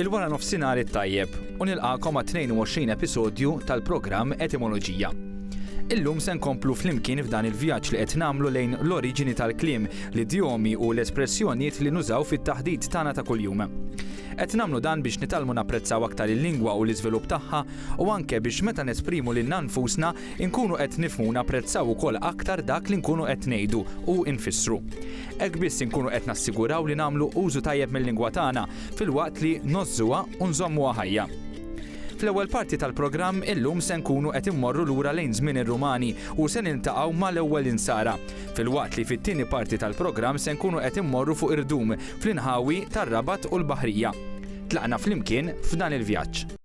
Il-wara nofsinhar it-tajjeb u nilqagħkom għat-22 episodju tal-programm Etimoloġija. Illum se nkomplu flimkien f'dan il-vjaġġ li qed nagħmlu lejn l-oriġini tal-kliem, l-idjomi u l-espressjonijiet li nużaw fit-taħdit tagħna ta' kuljum. Qed nagħmlu dan biex nitgħallmu napprezzaw aktar il-lingwa u l-iżvilupp tagħha u anke biex meta nesprimu lilna nfusna nkunu qed nifhmu u napprezzaw ukoll aktar dak li nkunu qed ngħidu u nfissru. Hekk biss inkunu qed nassiguraw li nagħmlu użu tajjeb mill-lingwa tagħna filwaqt li ngħożżuha u nżommuha ħajja. Fl-ewwel parti tal-programm illum se nkunu qed immorru lura lejn żmien ir-Rumani u se niltaqgħu mal-ewwel insara, filwaqt li fit-tieni parti tal-programm se nkunu qed immorru fuq irdum fl-inħawi tar-Rabat u l-Baħrija. Tlaqna flimkien f'dan il-vjaġġ.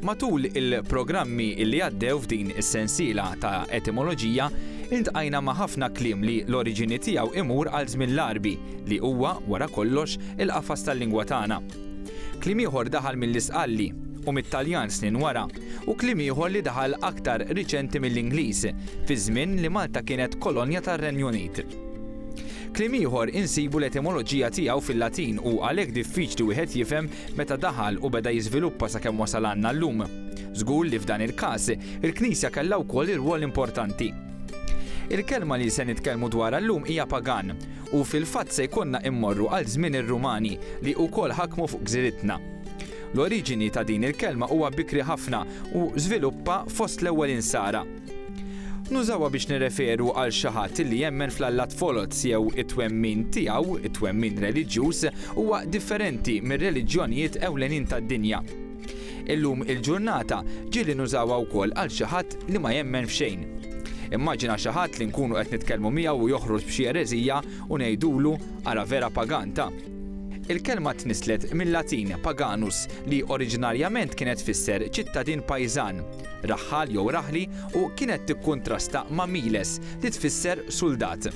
Matul il-programmi li għaddew f'din is-sensiela ta' etimoloġija, iltqajna ma' ħafna kliem li l-oriġini tiegħu imur għal żmien l-Għarbi, li huwa, wara kollox, il-qafas tal-lingwa tagħna. Kliem ieħor daħal mill-Isqalli, u mit-Taljan snin wara, u kliem ieħor li daħal aktar riċenti mill-Ingliż, fiż-żmien li Malta kienet kolonja tar-Renju Unit. Kliem ieħor insibu l-etimoloġija tiegħu fil-Latin u għalhekk diffiċli wieħed jifhem meta daħal u beda jiżviluppa sakemm wasal għandna llum. Żgur li f'dan il-każ, il-Knisja kellha wkoll irwol importanti. Il-kelma li se nitkellmu dwarha llum hija pagan u fil-fatt se jkollna immorru għal żmien ir-Rumani li wkoll ħakmu fuq gżiritna. L-oriġini ta' din il-kelma huwa bikri ħafna u żviluppa fost l-ewwel insara. Nużawha biex nirreferu għal xi ħadd li jemmen fl-allat foloz jew it-twemmin tiegħu, it-twemmin reliġjuż, huwa differenti mir-reliġjonijiet ewlenin tad-dinja. Illum il-ġurnata ġieli nużawha wkoll għal xi ħadd li ma jemmen f'xejn. Immaġina xi ħadd li nkunu qed nitkellmu miegħu u joħroġ b'xi ereżija u ngħidulu ara vera pagan ta. Il-kelma tnisslet mil-Latin paganus li oriġinarjament kienet tfisser ċittadin pajżan, raħħal jew raħli u kienet tikkuntrasta ma' miles li tfisser suldat.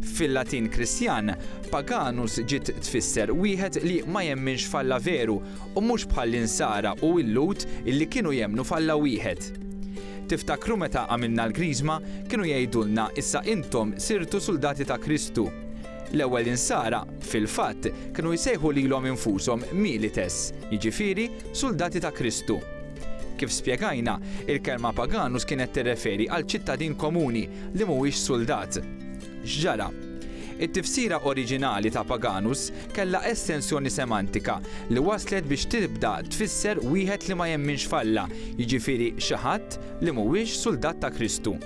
Fil-Latin Kristjan, paganus ġiet tfisser wieħed li ma jemminx f'Alla veru u mhux bħall-Insara u l-Lhud illi kienu jemmnu f'Alla wieħed. Tiftakru meta għamilna l-Griżma kienu jgħidulna issa intom sirtu suldati ta' Kristu. L-ewwel insara, fil-fatt, kienu jsejħu lilhom infushom milites, jiġifieri suldati ta' Kristu. Kif spjegajna, il-kelma paganus kienet tirreferi għal ċittadin komuni li mhuwiex suldat. X'ġara? It-tifsira oriġinali ta' paganus kellha estensjoni semantika li wasslet biex tibda tfisser wieħed li ma jemminx f'Alla, jiġifieri xi ħadd li mhuwiex suldat ta' Kristu.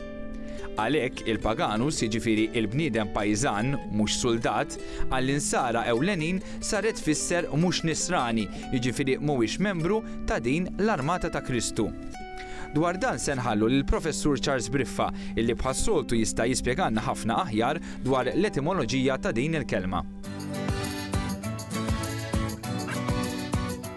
Għalhekk, il-paganus, jiġifieri l-bniedem pajżan, mhux suldat, għall-Insara ewlenin saret tfisser mhux Nisrani, jiġifieri mhuwiex membru ta' din l-armata ta' Kristu. Dwar dan se nħallu lill-Professur Charles Briffa, illi bħas-soltu jista' jispjegalna ħafna aħjar dwar l-etimoloġija ta' din il-kelma.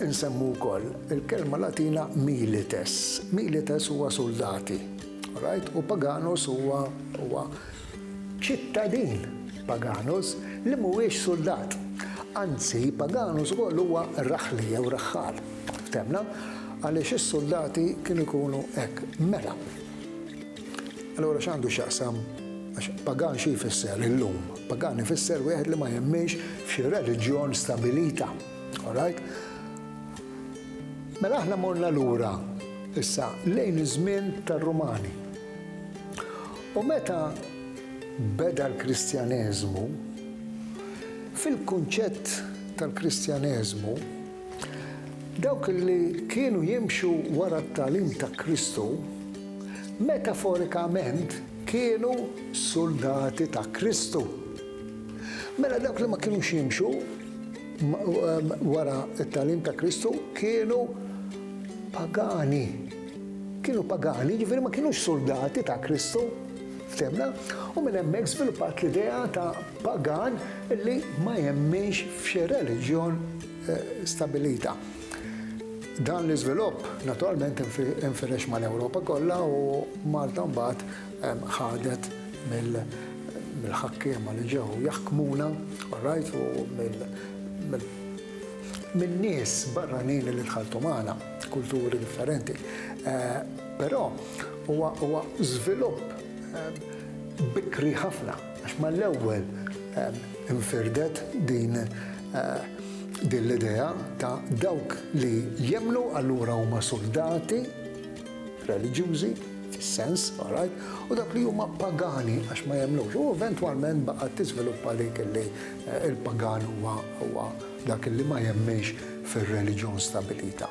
Insemmu wkoll il-kelma Latina milites. Milites huwa suldati, right? U paganus huwa huwa ċittadin paganus li mhuwiex suldat. Anzi, paganus ukoll huwa raħli jew raħħal. Ftemna? Għaliex is-suldati kienu jkunu hekk. Mela, Allura x'għandu x'jaqsam, għax pagan xi jfisser illum? Pagan ifisser wieħed li ma jemminx f'xi reliġjon stabilita. All right? Mela aħna morna lura issa lejn iż-żmien tar-Rumani. U meta beda l-Kristjaneżmu, fil-kunċett tal-Kristjaneżmu, Dawk li kienu jimxu wara t-tagħlim ta' Kristu, metaforikament kienu suldati ta' Kristu. Mela dawk li ma kinux jimxu wara t-tagħlim ta' Kristu kienu pagani. Kienu pagani, jiġifieri ma kinux suldati ta' Kristu. Ftemna? U minn hemmhekk żviluppat l-idea ta' Pagan li ma jemminx f'xi reliġjon stabbilita. Dan l-iżvilupp naturalment infirex mal-Ewropa kollha u Malta mbagħad ħadet mill-ħakkiema li ġew jaħkmuna, orajt, u min-nies barranin li dħaltu magħna, kulturi differenti. Però huwa żvilupp bikri ħafna. Għax mal-ewwel infirdet din din l-idea ta' dawk li jemmnu allura huma suldati reliġjużi fis-sens, all right, u dawk li huma pagani għax ma jemmnux. U eventwalment baqgħet tiżviluppa dik li l-pagan huwa dak li ma jemminx fir-reliġjon stabilita.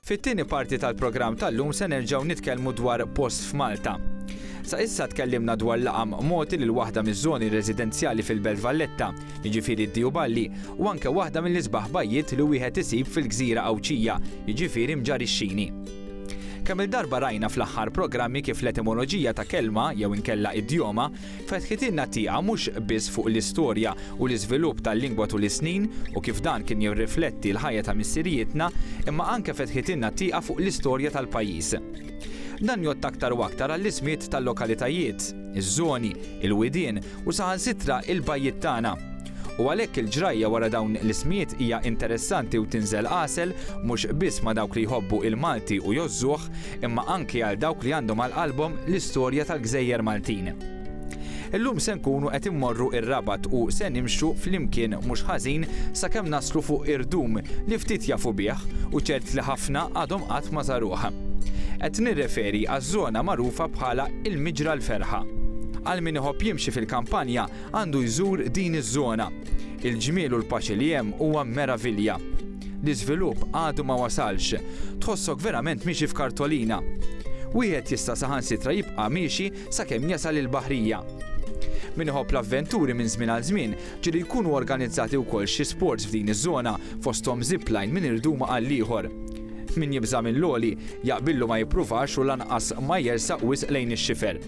Fit-tieni parti tal-programm tal-lum se nerġgħu nitkellmu dwar post f'Malta. Sa issa tkellimna dwar laqam mogħti lil waħda miż-żoni residenzjali fil-Belt Valletta, jiġifieri d-Diju Balli, u anke waħda mill-isbaħ bajjiet li wieħed isib fil-gżira Għawdxija, jiġifieri Mġarixxini. Kemm-il darba rajna fl-aħħar programmi kif l-etimoloġija ta' kelma, jew inkella idjoma, Fetħitilna tieqa mhux biss fuq l-istorja u l-iżvilupp tal-lingwa tul is-snin u kif dan kien jirrifletti l-ħajja ta' missirijietna, imma anke fetħitilna tieqa fuq l-istorja tal-pajjiż. Dan jgħodd aktar u aktar għall-ismiet tal-lokalitajiet, iż-żoni, il-widien u saħansitra il-bajjiet tagħna. u għalhekk il-ġrajja wara dawn l-ismijiet hija interessanti u tinżel għasel mhux biss ma' dawk li jħobbu il-Malti u jgħożżuh, imma anki għal dawk li għandhom għal qalbhom l-istorja tal-gżejjer Maltin. Illum se nkunu qed immorru r-Rabat u se nimxu flimkien mhux ħażin sakemm naslu fuq Irdum li ftit jafu bih u ċert li ħafna għadhom qatt ma żaruh. Qed nirreferi għaż-żona magħrufa bħala Il-Miġra l-Ferħa. Għal min iħobb jimxi fil-kampanja, għandu jżur din iż-żona. Il-ġmiel u l-paċi li hemm huwa meravilja. L-iżvilupp għadu ma wasalx. Tħossok verament miexi f'kartolina. Wieħed jista' saħansitra jibqa' miexi sakemm jasal il-baħrija. Min iħobb l-avventuri minn żmien għal żmien, ġieli jkunu organizzati wkoll xi sports f'din iż-żona, fosthom zipline minn irduma għall-ieħor. Min jibża' mill-għoli, jaqbillu ma jippruvax u lanqas ma jersaq wisq lejn ix-xifer.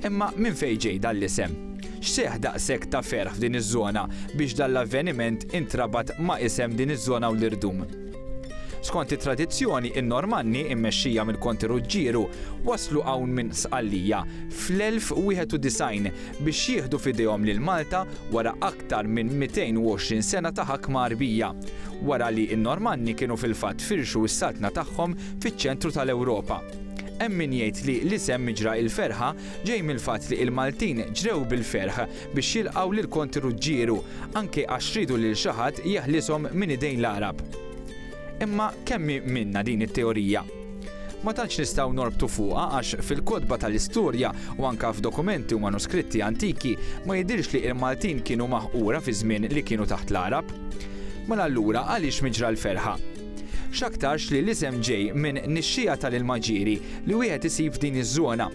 Imma minn fejn ġej dan l-isem? X'seħħ daqshekk ta' ferħ f'din iż-żona biex dan l-avveniment intrabat ma' isem din iż-żona u l-irdum? Skont it-tradizzjoni, in-Normanni, immexxija mill-Konti Ruġġieru, waslu hawn minn Sqallija fl-1091 biex jieħdu f'idejhom lil Malta wara aktar minn 220 sena ta' ħakma Għarbija, wara li n-Normanni kienu fil-fatt firxu s-saltna tagħhom fiċ-ċentru tal-Ewropa. Hemm min jgħid li l-isem Miġra il-Ferħa ġej mill-fatt li l-Maltin ġrew bil-ferħ biex jilqgħu lil Konti Ruġġieru, anke għax riedu lil xi ħadd jeħlishom minn idejn l-Għarab. Imma kemm hi minna din it-teorija? Ma tantx nistgħu norbtu fuqha għax fil-kotba tal-istorja u anke f'dokumenti u manuskritti antiki ma jidhirx li l-Maltin kienu maħqura fiż-żmien li kienu taħt l-Għarab. Mela allura għaliex Miġra l-Ferħa? X'aktarx li l-isem ġej minn nixxiegħa tal-ilma ġieri li wieħed isib f'din iż-żona.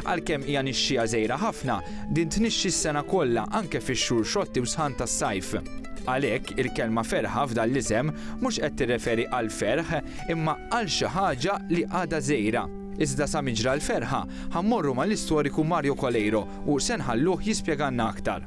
Għalkemm hija nixxiegħa żgħira ħafna, din tnixxi s-sena kollha anke fix-xhur xotti u sħan tas-sajf. Għalhekk, il-kelma ferħa f'dan l-isem mhux qed tirreferi għall-ferħ imma għal xi ħaġa li għadha żgħira. Iżda sa min ġra l-ferħa, ħa mmorru mal-istoriku Mario Coleiro u se nħalluh jispjegalna aktar.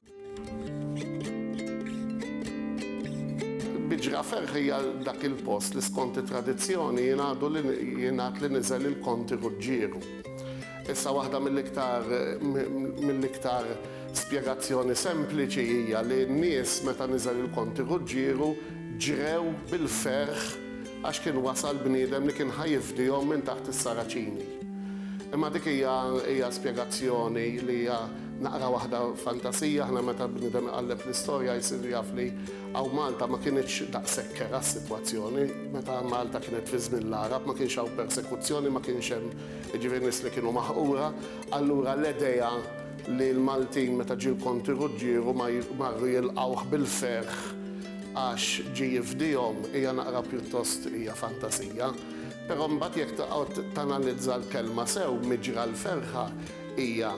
Biġra Ferħ hija dak il-post li skont it-tradizzjoni jingħadu li jingħad li niżel il-Konti Ruġġieru. Issa waħda mill-iktar mill-iktar spjegazzjoni sempliċi hija li n-nies meta niżel il-Konti Ruġġieru ġrew bil-ferħ għax kien wasal bniedem li kien ħa jifdihom minn taħt is-Saraċini. Imma dik hija hija spjegazzjoni li hija Naqra waħda fantasija, aħna meta bniedem iqalleb l-istorja jsiru jaf li hawn Malta ma kinitx daqshekk kerha s-sitwazzjoni. Meta Malta kienet fi żmien l-Għarab ma kienx hawn persekuzzjoni, ma kienx hemm jiġifieri nies li kienu maħqura. Allura l-idea li l-Maltin meta ġie l-Konti Ruġġieru ma marru jilqgħuh bil-ferħ għax ġie jifdihom hija naqra pjuttost hija fantasija. Però mbagħad jekk toqgħod tanalizza l-kelma sew, miġra l-ferħa, Hija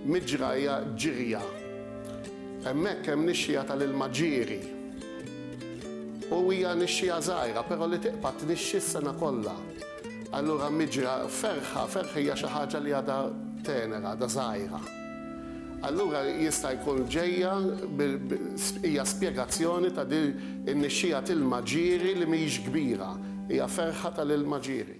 miġrajja ġirja. Hemmhekk hemm nixxigħa tal-ilma ġieri. U hija nixxigħa żgħira, però li tiqpa' tnixxi s-sena kollha. Allura miġra, ferħa, ferħa hija xi ħaġa li għadha tenera, għadha żgħira. Allura jista' jkun ġejja, hija spjegazzjoni ta' din in-nixxigħa t'ilma ġieri li mhijiex kbira, hija ferħa tal-ilma ġieri.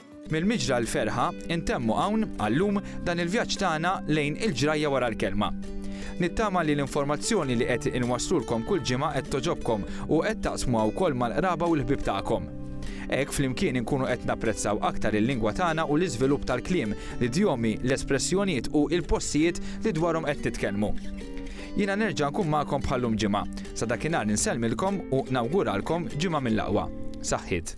Mill-miġra għal ferħa, intemmu hawn, għal-lum, dan il-vjaġġ tagħna lejn il-ġrajja wara l-kelma. Nittama li l-informazzjoni li qed inwasslulkom kull ġimgħa qed togħġobkom u qed taqsmuha wkoll mal-qraba u l-ħbieb tagħkom. Hekk flimkien inkunu qed napprezzaw aktar il-lingwa tagħna u l-iżvilupp tal-kliem, l-idjomi, l-espressjonijiet u il-postijiet li dwarhom qed nitkellmu. Jiena nerġa' nkun magħkom bħal-lum ġimgħa. Sa dakinhar insellmilkom u nawguralkom ġimgħa mill-aqwa. Saħħiet.